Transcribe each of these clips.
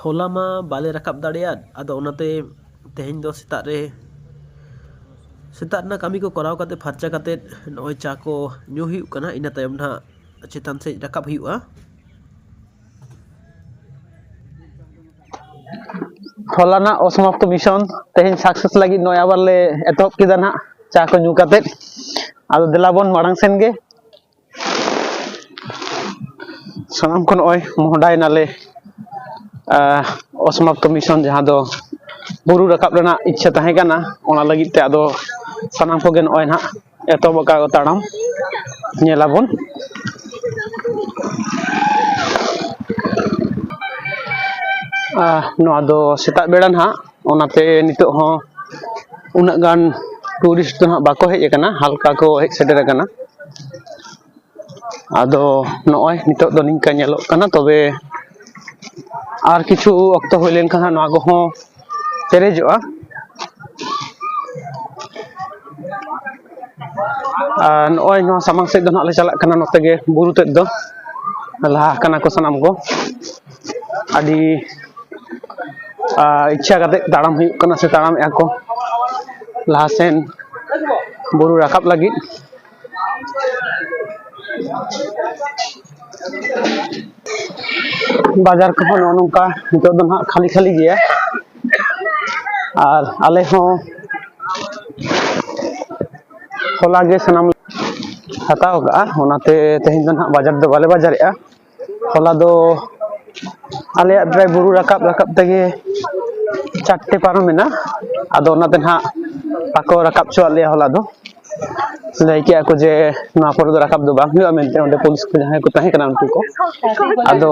ᱦᱚᱞᱟ ᱢᱟ ᱵᱟᱞᱮ ᱨᱟᱠᱟᱵ ᱫᱟᱲᱮᱭᱟᱫ ᱟᱫᱚ ᱚᱱᱟᱛᱮ ᱛᱮᱦᱮᱧ ᱫᱚ ᱥᱮᱛᱟᱜ ᱨᱮ ᱥᱮᱛᱟᱜ ᱨᱮᱱᱟᱜ ᱠᱟᱹᱢᱤ ᱠᱚ ᱠᱚᱨᱟᱣ ᱠᱟᱛᱮ ᱯᱷᱟᱨᱪᱟ ᱠᱟᱛᱮ ᱱᱚᱜᱼᱚᱭ ᱪᱟ ᱠᱚ ᱧᱩ ᱦᱩᱭᱩᱜ ᱠᱟᱱᱟ ᱤᱱᱟᱹ ᱛᱟᱭᱚᱢ ᱱᱟᱜ ᱪᱮᱛᱟᱱ ᱥᱮᱫ ᱨᱟᱠᱟᱵ ᱦᱩᱭᱩᱜᱼᱟ ᱦᱚᱞᱟᱱᱟᱜ ᱚᱥᱚᱢᱟᱯᱛᱚ ᱢᱤᱥᱚᱱ ᱛᱮᱦᱮᱧ ᱥᱟᱠᱥᱮᱥ ᱞᱟᱹᱜᱤᱫ ᱱᱚᱜᱼᱚᱭ ᱟᱵᱟᱨ ᱞᱮ ᱮᱛᱚᱦᱚᱵ ᱠᱮᱫᱟ ᱱᱟᱜ ᱪᱟ ᱠᱚ ᱧᱩ ᱠᱟᱛᱮ ᱟᱫᱚ ᱫᱮᱞᱟ ᱵᱚᱱ ᱢᱟᱲᱟᱝ ᱥᱮᱱ ᱜᱮ ᱥᱟᱱᱟᱢ ᱠᱚ ᱱᱚᱜᱼᱚᱭ ᱢᱚᱦᱚᱰᱟᱭ ᱱᱟᱞᱮ ᱚᱥᱢᱟᱛ ᱠᱚᱢᱤᱥᱚᱱ ᱡᱟᱦᱟᱸ ᱫᱚ ᱵᱩᱨᱩ ᱨᱟᱠᱟᱵ ᱨᱮᱱᱟᱜ ᱤᱪᱪᱷᱟᱹ ᱛᱟᱦᱮᱸ ᱠᱟᱱᱟ ᱚᱱᱟ ᱞᱟᱹᱜᱤᱫ ᱛᱮ ᱟᱫᱚ ᱥᱟᱱᱟᱢ ᱠᱚᱜᱮ ᱱᱚᱜᱼᱚᱭ ᱱᱟᱦᱟᱜ ᱮᱛᱚᱦᱚᱵ ᱟᱠᱟᱫ ᱠᱚ ᱛᱟᱲᱟᱢ ᱧᱮᱞ ᱟᱵᱚᱱ ᱱᱚᱣᱟ ᱫᱚ ᱥᱮᱛᱟᱜ ᱵᱮᱲᱟ ᱱᱟᱦᱟᱜ ᱚᱱᱟᱛᱮ ᱱᱤᱛᱚᱜ ᱦᱚᱸ ᱩᱱᱟᱹᱜ ᱜᱟᱱ ᱴᱩᱨᱤᱥᱴ ᱫᱚ ᱦᱟᱸᱜ ᱵᱟᱠᱚ ᱦᱮᱡ ᱟᱠᱟᱱᱟ ᱦᱟᱞᱠᱟ ᱠᱚ ᱦᱮᱡ ᱥᱮᱴᱮᱨ ᱟᱠᱟᱱᱟ ᱟᱫᱚ ᱱᱚᱜᱼᱚᱭ ᱱᱤᱛᱚᱜ ᱫᱚ ᱱᱤᱝᱠᱟ ᱧᱮᱞᱚᱜ ᱠᱟᱱᱟ ᱛᱚᱵᱮ ᱟᱨ ᱠᱤᱪᱷᱩ ᱚᱠᱛᱚ ᱦᱩᱭ ᱞᱮᱱᱠᱷᱟᱱ ᱦᱟᱸᱜ ᱱᱚᱣᱟ ᱠᱚᱦᱚᱸ ᱯᱮᱨᱮᱡᱚᱜᱼᱟ ᱟᱨ ᱱᱚᱜᱼᱚᱭ ᱱᱚᱣᱟ ᱥᱟᱢᱟᱝ ᱥᱮᱫ ᱫᱚ ᱦᱟᱸᱜ ᱞᱮ ᱪᱟᱞᱟᱜ ᱠᱟᱱᱟ ᱱᱚᱛᱮ ᱜᱮ ᱵᱩᱨᱩ ᱛᱮᱫ ᱫᱚ ᱞᱟᱦᱟ ᱟᱠᱟᱱᱟ ᱠᱚ ᱥᱟᱱᱟᱢ ᱠᱚ ᱟᱹᱰᱤ ᱤᱪᱪᱷᱟ ᱠᱟᱛᱮᱫ ᱛᱟᱲᱟᱢ ᱦᱩᱭᱩᱜ ᱠᱟᱱᱟ ᱥᱮ ᱛᱟᱲᱟᱢᱮᱜᱼᱟ ᱠᱚ ᱞᱟᱦᱟ ᱥᱮᱱ ᱵᱩᱨᱩ ᱨᱟᱠᱟᱵ ᱞᱟᱹᱜᱤᱫ ᱵᱟᱡᱟᱨ ᱠᱚᱦᱚᱸ ᱱᱚᱜᱼᱚ ᱱᱚᱝᱠᱟ ᱱᱤᱛᱚᱜ ᱫᱚ ᱱᱟᱦᱟᱜ ᱠᱷᱟᱹᱞᱤ ᱠᱷᱟᱹᱞᱤ ᱜᱮᱭᱟ ᱟᱨ ᱟᱞᱮ ᱦᱚᱸ ᱦᱚᱞᱟ ᱜᱮ ᱥᱟᱱᱟᱢ ᱦᱟᱛᱟᱣ ᱠᱟᱜᱼᱟ ᱚᱱᱟᱛᱮ ᱛᱮᱦᱮᱧ ᱫᱚ ᱱᱟᱦᱟᱜ ᱵᱟᱡᱟᱨ ᱫᱚ ᱵᱟᱞᱮ ᱵᱟᱡᱟᱨᱮᱜᱼᱟ ᱦᱚᱞᱟ ᱫᱚ ᱟᱞᱮᱭᱟᱜ ᱰᱨᱟᱭ ᱵᱩᱨᱩ ᱨᱟᱠᱟᱵ ᱨᱟᱠᱟᱵ ᱛᱮᱜᱮ ᱪᱟᱨᱴᱮ ᱯᱟᱨᱚᱢᱮᱱᱟ ᱟᱫᱚ ᱚᱱᱟᱛᱮ ᱱᱟᱦᱟᱜ ᱵᱟᱠᱚ ᱨᱟᱠᱟᱵ ᱦᱚᱪᱚᱣᱟᱜ ᱞᱮᱭᱟ ᱦᱚᱞᱟ ᱫᱚ ᱞᱟᱹᱭ ᱠᱮᱜᱼᱟ ᱠᱚ ᱡᱮ ᱱᱚᱣᱟ ᱯᱚᱨᱮ ᱫᱚ ᱨᱟᱠᱟᱵ ᱫᱚ ᱵᱟᱝ ᱦᱩᱭᱩᱜᱼᱟ ᱢᱮᱱᱛᱮ ᱚᱸᱰᱮ ᱯᱩᱞᱤᱥ ᱠᱚ ᱡᱟᱦᱟᱸᱭ ᱠᱚ ᱛᱟᱦᱮᱸ ᱠᱟᱱᱟ ᱩᱱᱠᱩ ᱠᱚ ᱟᱫᱚ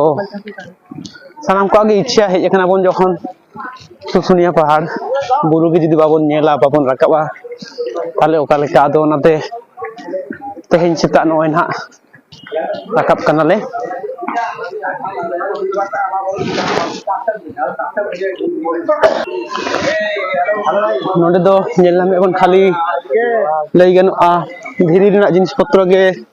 ᱥᱟᱱᱟᱢ ᱠᱚᱣᱟᱜ ᱜᱮ ᱤᱪᱪᱷᱟ ᱦᱮᱡ ᱠᱟᱱᱟ ᱵᱚᱱ ᱡᱚᱠᱷᱚᱱ ᱥᱩᱥᱩᱱᱤᱭᱟ ᱯᱟᱦᱟᱲ ᱵᱩᱨᱩ ᱜᱮ ᱡᱩᱫᱤ ᱵᱟᱵᱚᱱ ᱧᱮᱞᱟ ᱵᱟᱵᱚᱱ ᱨᱟᱠᱟᱵᱟ ᱛᱟᱦᱚᱞᱮ ᱚᱠᱟ ᱞᱮᱠᱟ ᱟᱫᱚ ᱚᱱᱟᱛᱮ ᱛᱮᱦᱮᱧ ᱥᱮᱛᱟᱜ ᱱᱚᱜᱼᱚᱭ ᱱᱟᱦᱟᱜ ᱨᱟᱠᱟᱵ ᱠᱟᱱᱟᱞᱮ ᱱᱚᱰᱮ ᱫᱚ ᱧᱮᱞ ᱧᱟᱢᱮᱫ ᱵᱚᱱ ᱠᱷᱟᱹᱞᱤ ᱞᱟᱹᱭ ᱜᱟᱱᱚᱜᱼᱟ ᱫᱷᱤᱨᱤ ᱨᱮᱱᱟᱜ ᱡᱤᱱᱤᱥ ᱯᱚᱛᱨᱚ ᱜᱮ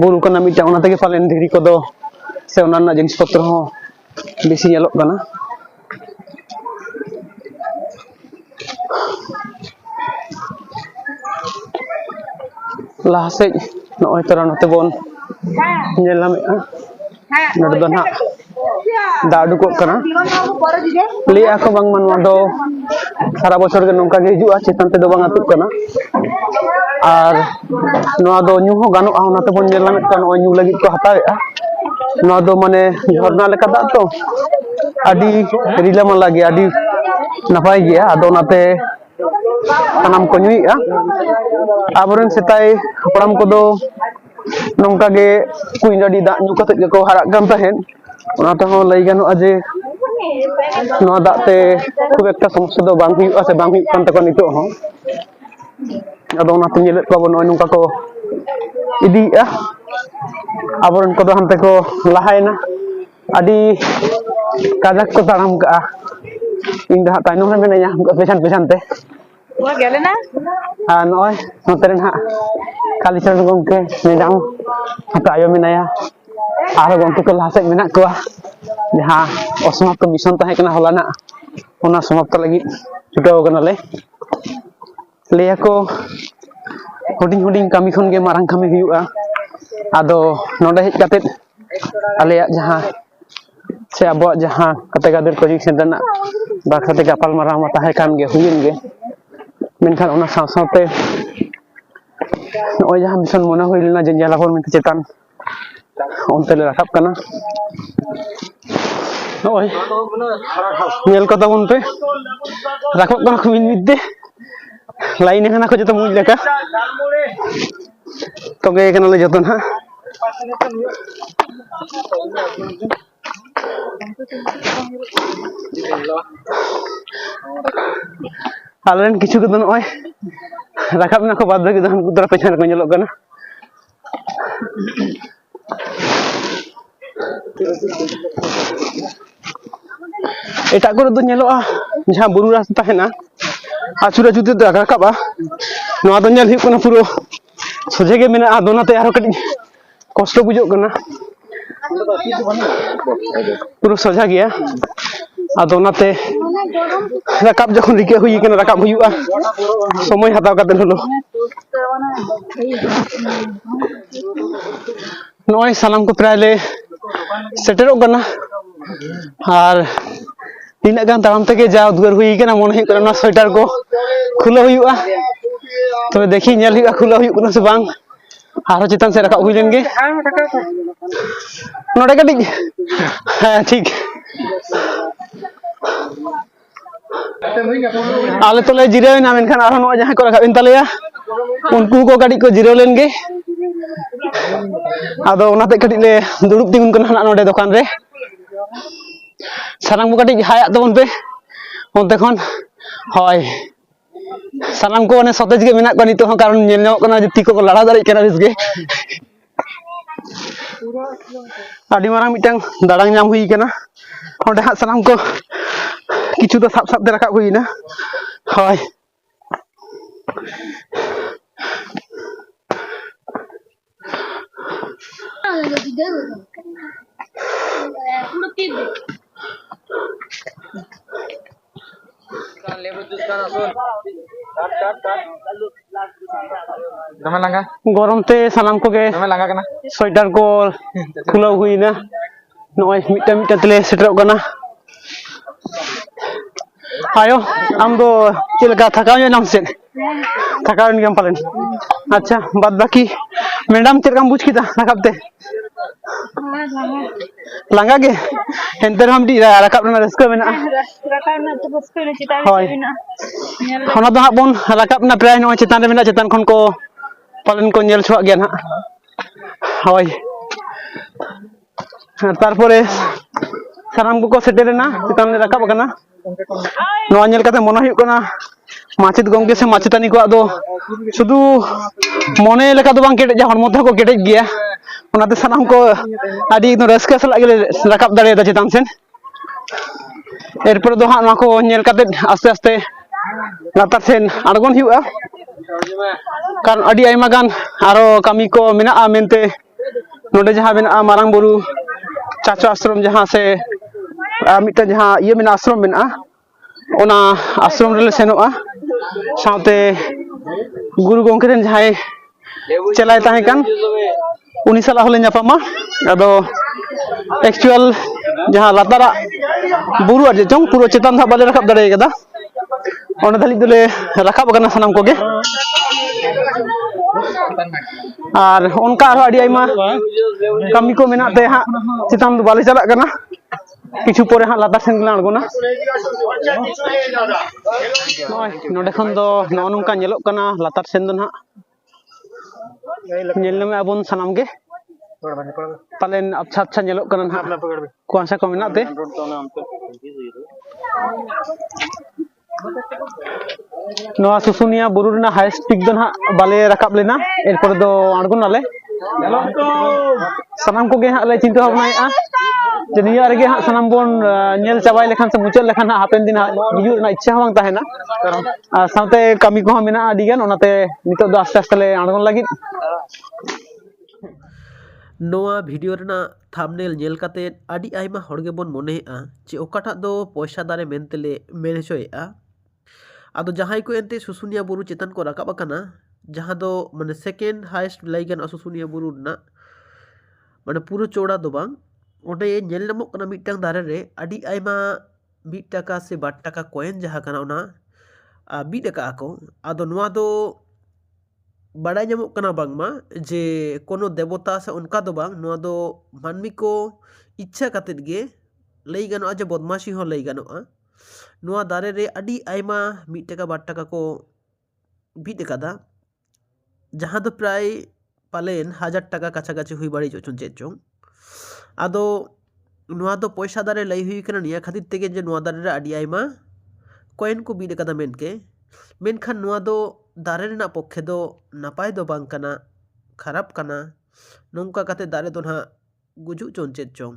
ᱵᱩᱨᱩ ᱠᱟᱱᱟ ᱢᱤᱫᱴᱟᱝ ᱚᱱᱟ ᱛᱮᱜᱮ ᱯᱟᱞᱮᱱ ᱫᱷᱤᱨᱤ ᱠᱚᱫᱚ ᱥᱮ ᱚᱱᱟ ᱨᱮᱱᱟᱜ ᱡᱤᱱᱤᱥ ᱯᱚᱛᱨᱚ ᱦᱚᱸ ᱵᱮᱥᱤ ᱧᱮᱞᱚᱜ ᱠᱟᱱᱟ ᱞᱟᱦᱟ ᱥᱮᱫ ᱱᱚᱜᱼᱚᱭ ᱛᱚᱨᱟ ᱱᱚᱛᱮ ᱵᱚᱱ ᱧᱮᱞ ᱧᱟᱢᱮᱫᱼᱟ ᱦᱮᱸ ᱱᱚᱰᱮ ᱫᱚ ᱱᱟᱦᱟᱜ ᱫᱟᱜ ᱩᱰᱩᱠᱚᱜ ᱠᱟᱱᱟ ᱞᱟᱹᱭ ᱟᱠᱚ ᱵᱟᱝᱢᱟ ᱱᱚᱣᱟ ᱫᱚ ᱥᱟᱨᱟ ᱵᱚᱪᱷᱚᱨ ᱜᱮ ᱱᱚᱝᱠᱟ ᱜᱮ ᱦᱤᱡᱩᱜᱼᱟ ᱪᱮᱛᱟᱱ ᱛᱮᱫᱚ ᱵᱟᱝ ᱟᱹᱛᱩᱜ ᱠᱟᱱᱟ ᱟᱨ ᱱᱚᱣᱟ ᱫᱚ ᱧᱩ ᱦᱚᱸ ᱜᱟᱱᱚᱜᱼᱟ ᱚᱱᱟ ᱛᱮᱵᱚᱱ ᱧᱮᱞ ᱧᱟᱢᱮᱫ ᱠᱟᱱᱟ ᱱᱚᱜᱼᱚᱭ ᱧᱩ ᱞᱟᱹᱜᱤᱫ ᱠᱚ ᱦᱟᱛᱟᱣᱮᱫᱼᱟ ᱱᱚᱣᱟ ᱫᱚ ᱢᱟᱱᱮ ᱡᱷᱚᱨᱱᱟ ᱞᱮᱠᱟ ᱫᱟᱜ ᱛᱚ ᱟᱹᱰᱤ ᱨᱤᱞᱟᱹᱢᱟᱞᱟ ᱜᱮᱭᱟ ᱟᱹᱰᱤ ᱱᱟᱯᱟᱭ ᱜᱮᱭᱟ ᱟᱫᱚ ᱚᱱᱟᱛᱮ ᱥᱟᱱᱟᱢ ᱠᱚ ᱧᱩᱭᱮᱫᱼᱟ ᱟᱵᱚᱨᱮᱱ ᱥᱮᱫᱟᱭ ᱦᱟᱯᱲᱟᱢ ᱠᱚᱫᱚ ᱱᱚᱝᱠᱟ ᱜᱮ ᱠᱩᱧ ᱰᱟᱹᱰᱤ ᱫᱟᱜ ᱧᱩ ᱠᱟᱛᱮ ᱜᱮᱠᱚ ᱦᱟᱨᱟᱜ ᱠᱟᱱ ᱛᱟᱦᱮᱸᱫ ᱚᱱᱟ ᱛᱮᱦᱚᱸ ᱞᱟᱹᱭ ᱜᱟᱱᱚᱜᱼᱟ ᱡᱮ ᱱᱚᱣᱟ ᱫᱟᱜ ᱛᱮ ᱠᱷᱩᱵ ᱮᱠᱴᱟ ᱥᱚᱢᱚᱥᱥᱟ ᱫᱚ ᱵᱟᱝ ᱦᱩᱭᱩᱜᱼᱟ ᱥᱮ ᱵᱟᱝ ᱦᱩᱭᱩᱜ ᱠᱟᱱ ᱛᱟᱠᱚᱣᱟ ᱱᱤᱛᱚᱜ ᱦᱚᱸ ᱟᱫᱚ ᱚᱱᱟᱛᱮ ᱧᱮᱞᱮᱫ ᱠᱚᱣᱟ ᱵᱚᱱ ᱱᱚᱜᱼᱚᱭ ᱱᱚᱝᱠᱟ ᱠᱚ ᱤᱫᱤᱭᱮᱫᱼᱟ ᱟᱵᱚᱨᱮᱱ ᱠᱚᱫᱚ ᱦᱟᱱᱛᱮ ᱠᱚ ᱞᱟᱦᱟᱭᱮᱱᱟ ᱟᱹᱰᱤ ᱠᱟᱡᱟᱠ ᱠᱚ ᱛᱟᱲᱟᱢ ᱠᱟᱜᱼᱟ ᱤᱧ ᱫᱚ ᱦᱟᱸᱜ ᱛᱟᱭᱱᱚᱢ ᱨᱮ ᱢᱤᱱᱟᱹᱧᱟ ᱩᱱᱠᱩᱣᱟᱜ ᱯᱮᱪᱷᱟᱱ ᱯᱮᱪᱷᱟᱱ ᱛᱮ ᱱᱚᱣᱟ ᱜᱮᱞᱮ ᱱᱟ ᱟᱨ ᱱᱚᱜᱼᱚᱭ ᱱᱚᱛᱮ ᱨᱮ ᱱᱟᱦᱟᱜ ᱠᱟᱞᱤᱪᱚᱨᱚᱱ ᱜᱚᱢᱠᱮ ᱢᱮᱰᱟᱢ ᱱᱚᱛᱮ ᱟᱭᱳ ᱢᱮᱱᱟᱭᱟ ᱟᱨᱦᱚᱸ ᱜᱚᱢᱠᱮ ᱠᱚ ᱞᱟᱦᱟ ᱥᱮᱫ ᱢᱮᱱᱟᱜ ᱠᱚᱣᱟ ᱡᱟᱦᱟᱸ ᱚᱥᱚᱢᱟᱯᱛᱚ ᱢᱤᱥᱚᱱ ᱛᱟᱦᱮᱸ ᱠᱟᱱᱟ ᱦᱚᱞᱟᱱᱟᱜ ᱚᱱᱟ ᱥᱚᱢᱟᱯᱛᱚ ᱞᱟᱹᱜᱤᱫ ᱪᱷᱩᱴᱟᱹᱣ ᱠᱟᱱᱟᱞᱮ ᱞᱟᱹᱭᱟᱠᱚ ᱦᱩᱰᱤᱧ ᱦᱩᱰᱤᱧ ᱠᱟᱹᱢᱤ ᱠᱷᱚᱱ ᱜᱮ ᱢᱟᱨᱟᱝ ᱠᱟᱹᱢᱤ ᱦᱩᱭᱩᱜᱼᱟ ᱟᱫᱚ ᱱᱚᱰᱮ ᱦᱮᱡ ᱠᱟᱛᱮᱫ ᱟᱞᱮᱭᱟᱜ ᱡᱟᱦᱟᱸ ᱥᱮ ᱟᱵᱚᱣᱟᱜ ᱡᱟᱦᱟᱸ ᱜᱟᱛᱮ ᱜᱟᱫᱮᱞ ᱠᱳᱪᱤᱝ ᱥᱮᱱᱴᱟᱨ ᱨᱮᱱᱟᱜ ᱵᱟᱠᱷᱨᱟ ᱛᱮ ᱜᱟᱯᱟᱞ ᱢᱟᱨᱟᱣ ᱢᱟ ᱛᱟᱦᱮᱸ ᱠᱟᱱ ᱜᱮ ᱦᱩᱭᱮᱱ ᱜᱮ ᱢᱮᱱᱠᱷᱟᱱ ᱚᱱᱟ ᱥᱟᱶ ᱥᱟᱶᱛᱮ ᱱᱚᱜᱼᱚᱭ ᱡᱟᱦᱟᱸ ᱢᱤᱥᱚᱱ ᱢᱚᱱᱮ ᱦᱩᱭ ᱞᱮᱱᱟ ᱡᱮ ᱧᱮᱞ ᱟᱵᱚᱱ ᱢᱮᱱᱛᱮ ᱪᱮᱛᱟᱱ ᱚᱱᱛᱮ ᱞᱮ ᱨᱟᱠᱟᱵ ᱠᱟᱱᱟ ᱱᱚᱜᱼᱚᱭ ᱧᱮᱞ ᱠᱚ ᱛᱟᱵᱚᱱ ᱯᱮ ᱨᱟᱠᱟᱵ ᱠᱟᱱᱟ ᱠᱚ ᱢᱤᱫ ᱢᱤᱫ ᱛᱮ ᱞᱟᱭᱤᱱ ᱠᱟᱱᱟ ᱠᱚ ᱡᱚᱛᱚ ᱢᱩᱸᱡ ᱞᱮᱠᱟ ᱛᱚᱵᱮ ᱠᱟᱱᱟᱞᱮ ᱡᱚᱛᱚ ᱱᱟᱦᱟᱜ ᱟᱞᱮ ᱨᱮᱱ ᱠᱤᱪᱷᱩ ᱠᱚᱫᱚ ᱱᱚᱜᱼᱚᱭ ᱨᱟᱠᱟᱵ ᱮᱱᱟ ᱠᱚ ᱵᱟᱫ ᱵᱟᱹᱠᱤ ᱫᱚ ᱦᱟᱱᱠᱩ ᱫᱚ ᱯᱮᱪᱷᱟᱱ ᱨᱮᱠᱚ ᱧᱮᱞᱚᱜ ᱠᱟᱱᱟ ᱮᱴᱟᱜ ᱠᱚᱨᱮ ᱫᱚ ᱧᱮᱞᱚᱜᱼᱟ ᱡᱟᱦᱟᱸ ᱵᱩᱨᱩ ᱨᱟᱥᱛᱟ ᱛᱟᱦᱮᱱᱟ ᱟᱹᱪᱩᱨ ᱟᱹᱪᱩᱨ ᱛᱮ ᱨᱟᱠᱟᱵᱼᱟ ᱱᱚᱣᱟ ᱫᱚ ᱧᱮᱞ ᱦᱩᱭᱩᱜ ᱠᱟᱱᱟ ᱯᱩᱨᱟᱹ ᱥᱚᱡᱷᱮ ᱜᱮ ᱢᱮᱱᱟᱜᱼᱟ ᱟᱫᱚ ᱚᱱᱟᱛᱮ ᱟᱨᱦᱚᱸ ᱠᱟᱹᱴᱤᱡ ᱠᱚᱥᱴᱚ ᱵᱩᱡᱷᱟᱹᱜ ᱠᱟᱱᱟ ᱯᱩᱨᱟᱹ ᱥᱚᱡᱷᱟ ᱜᱮᱭᱟ ᱟᱫᱚ ᱚᱱᱟᱛᱮ ᱨᱟᱠᱟᱵ ᱡᱚᱠᱷᱚᱱ ᱨᱤᱠᱟᱹ ᱦᱩᱭ ᱠᱟᱱᱟ ᱨᱟᱠᱟᱵ ᱦᱩᱭᱩᱜᱼᱟ ᱥᱚᱢᱚᱭ ᱦᱟᱛᱟᱣ ᱠᱟᱛᱮ ᱦᱚᱞᱮᱣ ᱱᱚᱜᱼᱚᱭ ᱥᱟᱱᱟᱢ ᱠᱚ ᱯᱨᱟᱭ ᱞᱮ ᱥᱮᱴᱮᱨᱚᱜ ᱠᱟᱱᱟ ᱟᱨ ᱛᱤᱱᱟᱹᱜ ᱜᱟᱱ ᱛᱟᱲᱟᱢ ᱛᱮᱜᱮ ᱡᱟ ᱩᱫᱽᱜᱟᱹᱨ ᱦᱩᱭ ᱠᱟᱱᱟ ᱢᱚᱱᱮ ᱦᱩᱭᱩᱜ ᱠᱟᱱᱟ ᱚᱱᱟ ᱥᱳᱭᱮᱴᱟᱨ ᱠᱚ ᱠᱷᱩᱞᱟᱹᱣ ᱦᱩᱭᱩᱜᱼᱟ ᱛᱚᱵᱮ ᱫᱮᱠᱷᱤ ᱧᱮᱞ ᱦᱩᱭᱩᱜᱼᱟ ᱠᱷᱩᱞᱟᱹᱣ ᱦᱩᱭᱩᱜ ᱠᱟᱱᱟ ᱥᱮ ᱵᱟᱝ ᱟᱨᱦᱚᱸ ᱪᱮᱛᱟᱱ ᱥᱮᱫ ᱨᱟᱠᱟᱵ ᱦᱩᱭ ᱞᱮᱱ ᱜᱮ ᱱᱚᱰᱮ ᱠᱟᱹᱴᱤᱡ ᱦᱮᱸ ᱴᱷᱤᱠ ᱟᱞᱮ ᱛᱚᱞᱮ ᱡᱤᱨᱟᱹᱣᱮᱱᱟ ᱢᱮᱱᱠᱷᱟᱱ ᱟᱨᱦᱚᱸ ᱱᱚᱜᱼᱚᱭ ᱡᱟᱦᱟᱸᱭ ᱠᱚ ᱨᱟᱠᱟᱵ ᱮᱱ ᱛᱟᱞᱮᱭᱟ ᱩᱱᱠᱩ ᱠᱚ ᱠᱟᱹᱴᱤᱡ ᱠᱚ ᱡᱤᱨᱟᱹᱣ ᱞᱮᱱ ᱜᱮ ᱟᱫᱚ ᱚᱱᱟᱛᱮ ᱠᱟᱹᱴᱤᱡ ᱞᱮ ᱫᱩᱲᱩᱵ ᱛᱤᱸᱜᱩᱱ ᱠᱟᱱᱟ ᱦᱟᱸᱜ ᱱᱚᱰᱮ ᱫᱚᱠᱟᱱ ᱨᱮ ᱥᱟᱱᱟᱢ ᱠᱚ ᱠᱟᱹᱴᱤᱡ ᱦᱟᱭᱟᱜ ᱛᱟᱵᱚᱱ ᱯᱮ ᱚᱱᱛᱮ ᱠᱷᱚᱱ ᱦᱳᱭ ᱥᱟᱱᱟᱢ ᱠᱚ ᱚᱱᱮ ᱥᱚᱛᱮᱡ ᱜᱮ ᱢᱮᱱᱟᱜ ᱠᱚᱣᱟ ᱱᱤᱛᱚᱜ ᱦᱚᱸ ᱠᱟᱨᱚᱱ ᱧᱮᱞ ᱧᱟᱢᱚᱜ ᱠᱟᱱᱟ ᱡᱮ ᱛᱤ ᱠᱚᱠᱚ ᱞᱟᱲᱟᱣ ᱫᱟᱲᱮᱭᱟᱜ ᱠᱟᱱᱟ ᱵᱮᱥ ᱜᱮ ᱟᱹᱰᱤ ᱢᱟᱨᱟᱝ ᱢᱤᱫᱴᱟᱝ ᱫᱟᱲᱟᱝ ᱧᱟᱢ ᱦᱩᱭ ᱠᱟᱱᱟ ᱚᱸᱰᱮ ᱦᱟᱸᱜ ᱥᱟᱱᱟᱢ ᱠᱚ ᱠᱤᱪᱷᱩ ᱫᱚ ᱥᱟᱵ ᱥᱟᱵ ᱛᱮ ᱨᱟᱠᱟᱵ ᱦᱩᱭᱱᱟ ᱦᱳᱭ ᱫᱚᱢᱮ ᱞᱟᱸᱜᱟ ᱜᱚᱨᱚᱢ ᱛᱮ ᱥᱟᱱᱟᱢ ᱠᱚᱜᱮ ᱫᱚᱢᱮ ᱞᱟᱸᱜᱟ ᱠᱟᱱᱟ ᱥᱳᱭᱮᱴᱟᱨ ᱠᱚ ᱠᱷᱩᱞᱟᱹᱣ ᱦᱩᱭᱱᱟ ᱱᱚᱜᱼᱚᱭ ᱢᱤᱫᱴᱟᱝ ᱢᱤᱫᱴᱟᱝ ᱛᱮᱞᱮ ᱥᱮᱴᱮᱨᱚᱜ ᱠᱟᱱᱟ ᱟᱭᱳ ᱟᱢ ᱫᱚ ᱪᱮᱫ ᱞᱮᱠᱟ ᱛᱷᱟᱠᱟᱣ ᱧᱚᱜ ᱮᱱᱟᱢ ᱥᱮ ᱪᱮᱫ ᱛᱷᱟᱠᱟᱣᱮᱱ ᱜᱮᱭᱟᱢ ᱯᱟᱞᱮᱱ ᱟᱪᱪᱷᱟ ᱵᱟᱫ ᱵᱟᱹᱠᱤ ᱢᱮᱰᱟᱢ ᱪᱮᱫ ᱞᱮᱠᱟᱢ ᱵᱩᱡᱽ ᱠᱮᱫᱟ ᱨᱟᱠᱟᱵ ᱛᱮ ᱞᱟᱸᱜᱟ ᱜᱮ ᱮᱱᱛᱮ ᱨᱮᱦᱚᱸ ᱢᱤᱫᱴᱤᱡ ᱨᱟᱠᱟᱵ ᱨᱮᱱᱟᱜ ᱨᱟᱹᱥᱠᱟᱹ ᱢᱮᱱᱟᱜᱼᱟ ᱦᱳᱭ ᱚᱱᱟ ᱫᱚ ᱦᱟᱸᱜ ᱵᱚᱱ ᱨᱟᱠᱟᱵ ᱨᱮᱱᱟᱜ ᱯᱨᱟᱭ ᱱᱚᱜᱼᱚᱭ ᱪᱮᱛᱟᱱ ᱨᱮ ᱢᱮᱱᱟᱜᱼᱟ ᱪᱮᱛᱟᱱ ᱠᱷᱚᱱ ᱠᱚ ᱯᱟᱞᱮᱱ ᱠᱚ ᱧᱮᱞ ᱦᱚᱪᱚᱣᱟᱜ ᱜᱮᱭᱟ ᱦᱟᱸᱜ ᱦᱳᱭ ᱦᱮᱸ ᱛᱟᱨᱯᱚᱨᱮ ᱥᱟᱱᱟᱢ ᱠᱚᱠᱚ ᱥᱮᱴᱮᱨᱮᱱᱟ ᱪᱮᱛᱟᱱ ᱞᱮ ᱨᱟᱠᱟᱵ ᱟᱠᱟᱱᱟ ᱱᱚᱣᱟ ᱧᱮᱞ ᱠᱟᱛᱮ ᱢᱚᱱᱮ ᱦᱩᱭᱩᱜ ᱠᱟᱱᱟ ᱢᱟᱪᱮᱫ ᱜᱚᱢᱠᱮ ᱥᱮ ᱢᱟᱪᱮᱛᱟᱹᱱᱤ ᱠᱚᱣᱟᱜ ᱫᱚ ᱥᱩᱫᱷᱩ ᱢᱚᱱᱮ ᱞᱮᱠᱟ ᱫᱚ ᱵᱟᱝ ᱠᱮᱴᱮᱡᱟ ᱦᱚᱲᱢᱚ ᱛᱮᱦᱚᱸ ᱠᱚ ᱠᱮᱴᱮᱡ ᱜᱮᱭᱟ ᱚᱱᱟᱛᱮ ᱥᱟᱱᱟᱢ ᱠᱚ ᱟᱹᱰᱤ ᱨᱟᱹᱥᱠᱟᱹ ᱥᱟᱞᱟᱜ ᱜᱮᱞᱮ ᱨᱟᱠᱟᱵ ᱫᱟᱲᱮᱭᱟᱫᱟ ᱪᱮᱛᱟᱱ ᱥᱮᱱ ᱮᱨᱯᱚᱨᱮ ᱫᱚ ᱦᱟᱸᱜ ᱱᱚᱣᱟ ᱠᱚ ᱧᱮᱞ ᱠᱟᱛᱮ ᱟᱥᱛᱮ ᱟᱥᱛᱮ ᱞᱟᱛᱟᱨ ᱥᱮᱱ ᱟᱬᱜᱚᱱ ᱦᱩᱭᱩᱜᱼᱟ ᱠᱟᱨᱚᱱ ᱟᱹᱰᱤ ᱟᱭᱢᱟ ᱜᱟᱱ ᱟᱨᱚ ᱠᱟᱹᱢᱤ ᱠᱚ ᱢᱮᱱᱟᱜᱼᱟ ᱢᱮᱱᱛᱮ ᱱᱚᱰᱮ ᱡᱟᱦᱟᱸ ᱢᱮᱱᱟᱜᱼᱟ ᱢᱟᱨᱟᱝ ᱵᱩᱨᱩ ᱪᱟᱪᱚ ᱟᱥᱨᱚᱢ ᱡᱟᱦᱟᱸ ᱥᱮ ᱢᱤᱫᱴᱟᱝ ᱡᱟᱦᱟᱸ ᱤᱭᱟᱹ ᱢᱮᱱᱟᱜᱼᱟ ᱟᱥᱨᱚᱢ ᱢᱮᱱᱟᱜᱼᱟ ᱚᱱᱟ ᱟᱥᱨᱚᱢ ᱨᱮᱞᱮ ᱥᱮᱱᱚᱜᱼᱟ ᱥᱟᱶᱛᱮ ᱜᱩᱨᱩ ᱜᱚᱢᱠᱮ ᱨᱮᱱ ᱡᱟᱦᱟᱸᱭ ᱪᱮᱞᱟᱭ ᱛᱟᱦᱮᱸ ᱠᱟᱱ ᱩᱱᱤ ᱥᱟᱞᱟᱜ ᱦᱚᱸᱞᱮ ᱧᱟᱯᱟᱢᱟ ᱟᱫᱚ ᱮᱠᱪᱩᱭᱮᱞ ᱡᱟᱦᱟᱸ ᱞᱟᱛᱟᱨᱟᱜ ᱵᱩᱨᱩ ᱟᱨ ᱪᱮᱫ ᱪᱚᱝ ᱯᱩᱨᱟᱹ ᱪᱮᱛᱟᱱ ᱫᱚ ᱦᱟᱸᱜ ᱵᱟᱞᱮ ᱨᱟᱠᱟᱵ ᱫᱟᱲᱮ ᱠᱟᱫᱟ ᱚᱸᱰᱮ ᱫᱷᱟᱹᱞᱤᱡ ᱫᱚᱞᱮ ᱨᱟᱠᱟᱵ ᱟᱠᱟᱱᱟ ᱥᱟᱱᱟᱢ ᱠᱚᱜᱮ ᱟᱨ ᱚᱱᱠᱟ ᱟᱨᱦᱚᱸ ᱟᱹᱰᱤ ᱟᱭᱢᱟ ᱠᱟᱹᱢᱤ ᱠᱚ ᱢᱮᱱᱟᱜ ᱛᱮ ᱦᱟᱸᱜ ᱪᱮᱛᱟᱱ ᱫᱚ ᱵᱟᱞᱮ ᱪᱟᱞᱟᱜ ᱠᱟᱱᱟ ᱠᱤᱪᱷᱩ ᱯᱚᱨᱮ ᱦᱟᱸᱜ ᱞᱟᱛᱟᱨ ᱥᱮᱱ ᱜᱮᱞᱟᱝ ᱟᱬᱜᱚᱱᱟ ᱱᱚᱜᱼᱚᱭ ᱱᱚᱰᱮ ᱠᱷᱚᱱ ᱫᱚ ᱱᱚᱜᱼᱚ ᱱᱚᱝᱠᱟ ᱧᱮᱞᱚᱜ ᱠᱟᱱᱟ ᱞᱟᱛᱟᱨ ᱥᱮᱱ ᱫᱚ ᱱᱟᱦᱟᱜ ᱧᱮᱞ ᱧᱟᱢᱮ ᱟᱵᱚᱱ ᱥᱟᱱᱟᱢ ᱜᱮ ᱯᱟᱞᱮᱱ ᱟᱪᱪᱷᱟ ᱟᱪᱪᱷᱟ ᱧᱮᱞᱚᱜ ᱠᱟᱱᱟ ᱱᱟᱦᱟᱜ ᱠᱩᱣᱟᱥᱟ ᱠᱚ ᱢᱮᱱᱟᱜ ᱛᱮ ᱱᱚᱣᱟ ᱥᱩᱥᱩᱱᱤᱭᱟ ᱵᱩᱨᱩ ᱨᱮᱱᱟᱜ ᱦᱟᱭᱮᱥᱴ ᱯᱤᱠ ᱫᱚ ᱱᱟᱦᱟᱜ ᱵᱟᱞᱮ ᱨᱟᱠᱟᱵ ᱞᱮᱱᱟ ᱮᱨᱯᱚᱨ ᱫᱚ ᱟᱬᱜᱚᱱᱟᱞᱮ ᱥᱟᱱᱟᱢ ᱠᱚᱜᱮ ᱦᱟᱸᱜ ᱞᱮ ᱪᱤᱱᱛᱟᱹ ᱵᱷᱟᱵᱽᱱᱟᱭᱮᱫᱼᱟ ᱡᱮ ᱱᱤᱭᱟᱹ ᱨᱮᱜᱮ ᱦᱟᱸᱜ ᱥᱟᱱᱟᱢ ᱵᱚᱱ ᱧᱮᱞ ᱪᱟᱵᱟᱭ ᱞᱮᱠᱷᱟᱱ ᱥᱮ ᱢᱩᱪᱟᱹᱫ ᱞᱮᱠᱷᱟᱱ ᱦᱟᱸᱜ ᱦᱟᱯᱮᱱ ᱫᱤᱱ ᱦᱟᱸᱜ ᱦᱤᱡᱩᱜ ᱨᱮᱱᱟᱜ ᱤᱪᱪᱷᱟᱹ ᱦᱚᱸ ᱵᱟᱝ ᱛᱟᱦᱮᱱᱟ ᱟᱨ ᱥᱟᱶᱛᱮ ᱠᱟᱹᱢᱤ ᱠᱚᱦᱚᱸ ᱢᱮᱱᱟᱜᱼᱟ ᱟᱹᱰᱤ ᱜᱟᱱ ᱚᱱᱟᱛᱮ ᱱᱤᱛᱚᱜ ᱫᱚ ᱟᱥᱛᱮ ᱟᱥᱛᱮ ᱞᱮ ᱟᱬᱜᱚᱱ ᱞᱟᱹᱜᱤᱫ ᱱᱚᱣᱟ ᱵᱷᱤᱰᱤᱭᱳ ᱨᱮᱱᱟᱜ ᱛᱷᱟᱢᱵᱽᱱᱮᱞ ᱧᱮᱞ ᱠᱟᱛᱮᱫ ᱟᱹᱰᱤ ᱟᱭᱢᱟ ᱦᱚᱲ ᱜᱮᱵᱚᱱ ᱢᱚᱱᱮᱭᱮᱫᱼᱟ ᱡᱮ ᱚᱠᱟᱴᱟᱜ ᱫᱚ ᱯᱚᱭᱥᱟ ᱫᱟᱨᱮ ᱢᱮᱱᱛᱮ ᱞᱮ ᱢᱮᱱ ᱦᱚᱪᱚᱭᱮᱫᱼᱟ ᱟᱫᱚ ᱡᱟᱦᱟᱸᱭ ᱠᱚ ᱮᱱᱛᱮ ᱥᱩᱥᱩᱱᱤᱭᱟ ᱵᱩᱨᱩ ᱪᱮᱛᱟᱱ ᱠᱚ ᱨᱟᱠᱟᱵ ᱟᱠᱟᱱᱟ ᱡᱟᱦᱟᱸ ᱫᱚ ᱢᱟᱱᱮ ᱥᱮᱠᱮᱱᱰ ᱦᱟᱭᱮᱥᱴ ᱞᱟᱹᱭ ᱜᱟᱱᱚᱜᱼᱟ ᱥᱩᱥᱩᱱᱤᱭᱟ ᱵᱩᱨᱩ ᱨᱮᱱᱟᱜ ᱢᱟᱱᱮ ᱯᱩᱨᱟᱹ ᱪᱚᱣᱲᱟ ᱫᱚ ᱵᱟᱝ ᱚᱸᱰᱮ ᱧᱮᱞ ᱧᱟᱢᱚᱜ ᱠᱟᱱᱟ ᱢᱤᱫᱴᱟᱝ ᱫᱟᱨᱮ ᱨᱮ ᱟᱹᱰᱤ ᱟᱭᱢᱟ ᱢᱤᱫ ᱴᱟᱠᱟ ᱥᱮ ᱵᱟᱨ ᱴᱟᱠᱟ ᱠᱚᱭᱮᱱ ᱡᱟᱦᱟᱸ ᱠᱟᱱᱟ ᱚᱱᱟ ᱵᱤᱫ ᱟᱠᱟᱫᱼᱟ ᱠᱚ ᱟᱫᱚ ᱱᱚᱣᱟ ᱫᱚ ᱵᱟᱰᱟᱭ ᱧᱟᱢᱚᱜ ᱠᱟᱱᱟ ᱵᱟᱝᱢᱟ ᱡᱮ ᱠᱳᱱᱳ ᱫᱮᱵᱚᱛᱟ ᱥᱮ ᱚᱱᱠᱟ ᱫᱚ ᱵᱟᱝ ᱱᱚᱣᱟ ᱫᱚ ᱢᱟᱹᱱᱢᱤ ᱠᱚ ᱤᱪᱪᱷᱟᱹ ᱠᱟᱛᱮᱫ ᱜᱮ ᱞᱟᱹᱭ ᱜᱟᱱᱚᱜᱼᱟ ᱡᱮ ᱵᱚᱫᱢᱟᱭᱤᱥᱤ ᱦᱚᱸ ᱞᱟᱹᱭ ᱜᱟᱱᱚᱜᱼᱟ ᱱᱚᱣᱟ ᱫᱟᱨᱮ ᱨᱮ ᱟᱹᱰᱤ ᱟᱭᱢᱟ ᱢᱤᱫ ᱴᱟᱠᱟ ᱵᱟᱨ ᱴᱟᱠᱟ ᱠᱚ ᱵᱤᱫ ᱟᱠᱟᱫᱟ ᱡᱟᱦᱟᱸ ᱫᱚ ᱯᱨᱟᱭ ᱯᱟᱞᱮᱱ ᱦᱟᱡᱟᱨ ᱴᱟᱠᱟ ᱠᱟᱪᱷᱟ ᱠᱟᱪᱷᱤ ᱦᱩᱭ ᱵᱟᱹᱲᱤᱡᱚᱜ ᱪᱚᱝ ᱪᱮᱫ ᱪᱚᱝ ᱟᱫᱚ ᱱᱚᱣᱟ ᱫᱚ ᱯᱚᱭᱥᱟ ᱫᱟᱨᱮ ᱞᱟᱹᱭ ᱦᱩᱭ ᱠᱟᱱᱟ ᱱᱤᱭᱟᱹ ᱠᱷᱟᱹᱛᱤᱨ ᱛᱮᱜᱮ ᱡᱮ ᱱᱚᱣᱟ ᱫᱟᱨᱮ ᱨᱮ ᱟᱹᱰᱤ ᱟᱭᱢᱟ ᱠᱚᱭᱮᱱ ᱠᱚ ᱵᱤᱫ ᱠᱟᱫᱟ ᱢᱮᱱᱛᱮ ᱢᱮᱱᱠᱷᱟᱱ ᱱᱚᱣᱟ ᱫᱚ ᱫᱟᱨᱮ ᱨᱮᱱᱟᱜ ᱯᱚᱠᱠᱷᱮ ᱫᱚ ᱱᱟᱯᱟᱭ ᱫᱚ ᱵᱟᱝ ᱠᱟᱱᱟ ᱠᱷᱟᱨᱟᱯ ᱠᱟᱱᱟ ᱱᱚᱝᱠᱟ ᱠᱟᱛᱮᱫ ᱫᱟᱨᱮ ᱫᱚ ᱱᱟᱦᱟᱜ ᱜᱩᱡᱩᱜ ᱪᱚᱝ ᱪᱮᱫ ᱪᱚᱝ